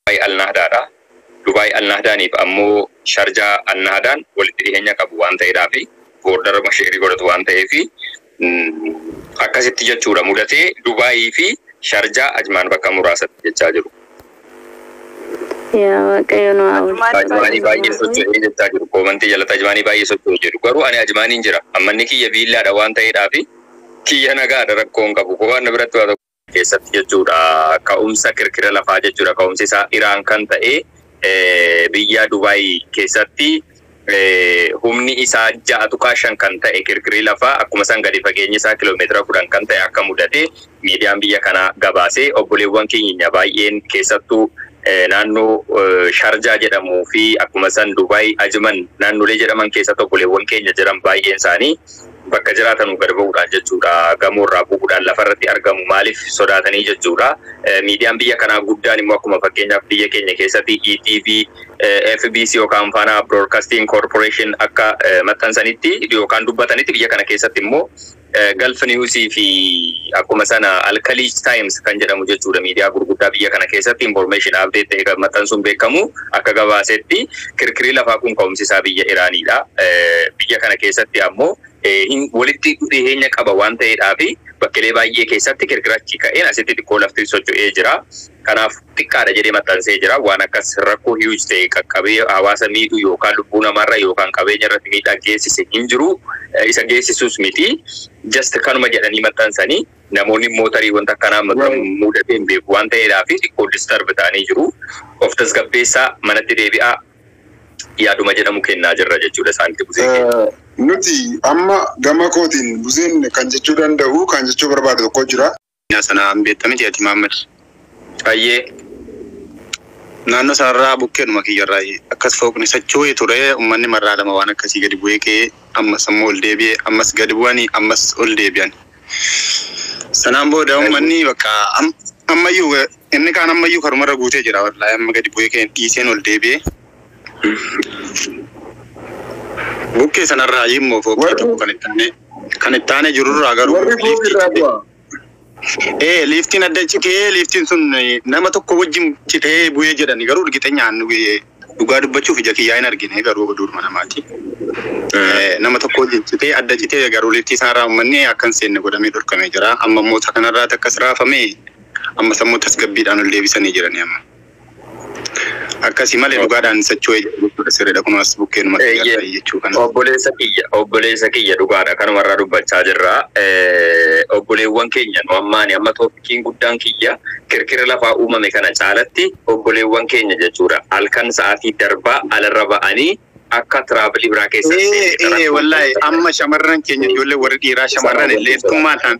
Dubaay Al-Nahdaa dha. Dubaay Al-Nahdaan fi ammoo Sharjaa Al-Nahdaan walitti dhiheenya qabu waan ta'eedhaa fi boordaruma sheerii godhatu waan ta'eef akkasitti jechuudha mudatee Dubaayii fi Sharjaa Ajmaan bakka muraasatti jechaa jiru. Yaa Waaqayyo nu haa Ajmaanii oolchu. Ajmaanii baay'ee Ajmaanii. socho'ee jechaa jiru. Koomantii jalatti Ajmaanii baay'ee socho'ee jedhu. Garuu ani Ajmaaniin jira. Ammanni kiyya biillaadha waan ta'eedhaa fi kiyya nagaadha rakkoon qabu. Waan na biratti waa tokko keessatti jechuudha. Ka'umsa kirkira lafaa jechuudha. Ka'umsi isaa Iraan kan ta'e biyya Dubaay keessatti humni isaa 6.5 kan ta'e kirkirri lafaa akkuma san gadi fageenyi isaa kiloomeetira 10 kan ta'e akka mudate miidiyaan biyya kanaa gabaase obboleewwan keenya baay'een keessattuu naannoo Sharjaa jedhamuu fi akkuma san Dubaay Ajiman naannolee jedhaman keessatti obboleewwan keenya jiran baay'een isaanii Bakka jiraatanu gad ba'uudhaan jechuudha. Gamoo irraa bu'uudhaan lafa irratti argamu maaliif sodaatanii jechuudha. Miidiyaan biyya kanaa guddaan immoo akkuma fakkeenyaaf biyya keenya keessatti ETV, fbc yookaan Faanaa Broodkastiin Koorporeeshin akka maxxansanitti yookaan dubbatanitti biyya kana keessatti immoo Galf News fi akkuma sana Alkaliij Times kan jedhamu jechuudha miidiyaa gurguddaa biyya kana keessatti information update ta'e kan maxxansuun beekamu akka gabaasetti Kirkirii lafaa kun ka'umsi isaa biyya Iraanii dha. Biyya kana keessatti ammoo walitti dhiheenya qaba waan ta'eedhaafi bakkelee baay'ee keessatti kirkira achi ka'een asitti xiqqoo lafti socho'ee jira. Kanaaf xiqqaa dha jedhee maxxansee jira. Waan akkas rakkoo huge ta'e qaqqabee hawaasa miidhu yookaan lubbuu namaarra yookaan qabeenya irratti miidhaa geessise hin jiru. Isa geessisuus miti. Just kanuma jedhanii maxxansanii. Namoonni immoo tarii wanta akkanaa amma dura muudatee hin beeku waan ta'eedhaafi xiqqoo disturb ta'anii jiru. Of tasgabbeessaa, manatti deebi'aa yaaduma jedhamu kennaa jirra jechuudha isaanitti Buzee keenya. Nuti amma gama kootiin Buzeen kan jechuu danda'u, kan jechuu barbaadu tokko jira. Sana hin beekta miti ati Mahammad? Hayyee. Naannoo sanarraa bukkeedhuma kiyyarraa akkas fooqni socho'ee ture ummanni marraa lama waan akkasii gadi bu'ee ka'ee ammas ammoo ol deebi'ee ammas gadi bu'anii ammas ol deebi'an. Sanaan booda ummanni bakka am- ammayyuu eh, inni kaan ammayyuu karumarra guutee jira wallaahi amma gadi bu'ee ka'een dhiiseen ol deebi'ee. Bukkee sanarraa immoo fooqii Warri- tokko kan itti aanee kan itti aanee jirurraa garuu Warri kun irraa bu'a. Ee liiftiin adda citee liiftiin sun nama tokko wajjin citee bu'ee jedhani garuu urgixenyaan dhugaa dubbachuuf ija kiyyaa hin argine garuu oduudhuma namaati. Nama tokko wajjin citee adda citee garuu liiftii isaarraa uummanni akka hin seenne godhamee dhorkamee jira. Amma immoo isa kanarraati akkas raafamee ammas ammoo tasgabbiidhaan ol deebisanii jiranii amma. Akkasi malee dhugaadhaan sachuu eeyyee jechuudha sirriidha kunoo as bukkee numa kiyya Eeyyeen. ta'e jechuu kana. Obboleessa kiyya, obboleessa kiyya dhugaadha kanuma irraa dubbachaa jirra. Eh, Obboleewwan keenya nu ammaani amma toopikiin guddaan kiyya kirkira lafaa uumame kana caalatti obboleewwan keenya jechuudha. Halkan sa'aatii darbaa alarra ba'anii akka tiraabilii biraa keessa Ee, ee, wallahi amma shamarran keenya ijoollee warri dhiiraa shamarran illee ittummaadhaan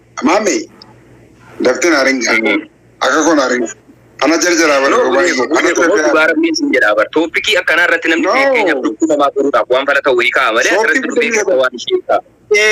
Maame dafte na ringa. Akka koo na ringa. Ana jarjaraa bari No, gobaa Buneeko, eeguu. Ana Buneeko, moo dhugaa rabbiin sin jedhaa bar. Tooppikii akkanaa irratti namni No. fakkeenyaaf lubbuu namaa furuudhaaf waan fala ta'u hiikaa malee Sooftii asirratti dubbii bitamee keessa waan ishee hiikaa.